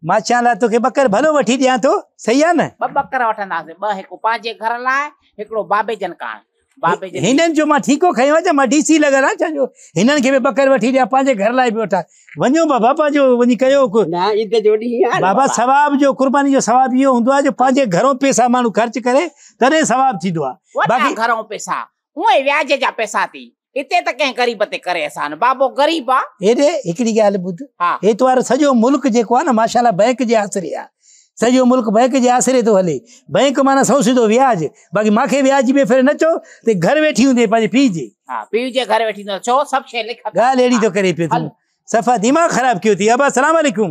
مان چيان لاء توکي ٻڪر ڀلو وٺي ڏيان ٿو صحيح آ نه ٻه ٻڪر وٺنداسي ٻه هڪ پنهنجي گهر لاء هڪڙو بابي جن ڪاڻ بابي جن هنن جو مان ٺيڪو کيو آ مان ڊي سي لڳل آ چا جو هنن کي به ٻڪر وٺي ڏيان پنهنجي گهر لاء به وٺا وڃو بابا پنهنجو وڃي ڪيو نه عيد جو ڏينهن آ بابا ثواب جو قرباني جو ثواب اهو هوندو آ جو پنهنجي گهرو پيسا ماڻهو خرچ ڪري تڏهن ثواب ٿيندو آ باقي گهرو پيسا اهي وياج جا پئسا ٿي. هتي ته ڪنهن غريب تي ڪري احسان. بابو غريب آ. هيڏي هڪڙي ڳالهه ٻڌ. ها. هي تنهنجو سڄو ملڪ جيڪو آ نه ماشاالله بئنڪ جي آسري آ. سڄو ملڪ بئنڪ جي آسري ٿو هلي. بئنڪ معنيٰ سو سڌو وياج. باقي مان کي وياج جي بي فڪري نه چئو ته گهر ويٺي هوندين پنهنجي پيء جي. ها. پيء جي گهر ويٺي هوندين. ڇو سڀ شيء لک. ڳالهه اهڙي ٿو ڪري پيو تون. صفا دماغ خراب ڪيو اٿئي. ابا سلام عليڪم.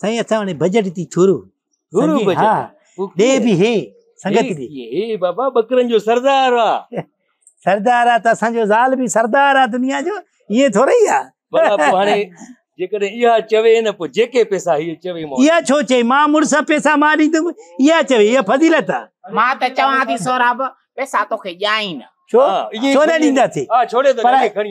سائين اسان وٽ بجيٽ تي ٿورو ٿورو بجيٽ ها ڏي به هي سنگت به هي بابا بکرن جو سردار آ سردار آ ته اسان جو زال به سردار آ دنيا جو ائين ٿوري آ بابا پو هاڻي جيڪڏهن اها چوي نه پو جيڪي پيسا هي چوي مون اها ڇو چي ما مڙس پيسا ما ڏيندم اها چوي اها فضيلت آ ما ته چوان ٿي سوراب پيسا توکي ڏيان ئي نه ڇو ڇو نه ڏينداسي پر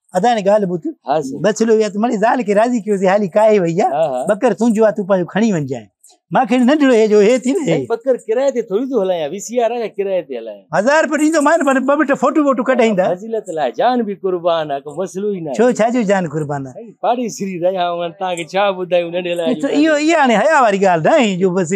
ادا ني گال بوت بچلو يا تو مني زال کي راضي کيو سي حالي کائي وئي يا بکر تونجو آ تو پايو کڻي ونجا ما کي نه ڏڙو هي جو هي ٿي نه بکر ڪراي تي ٿوري تو هلايا وي سي آر آ ڪراي تي هلايا هزار پر ايندو مان پر ببٽ فوٽو ووٽو ڪڍائيندا فضيلت لا جان به قربان آ ڪو مسلو ئي نه ڇو ڇا جو جان قربان آ پاڙي سري رهيا هون تا کي ڇا ٻڌايو نه ڏلاي ايو ايا نه حيا واري گال نه جو بس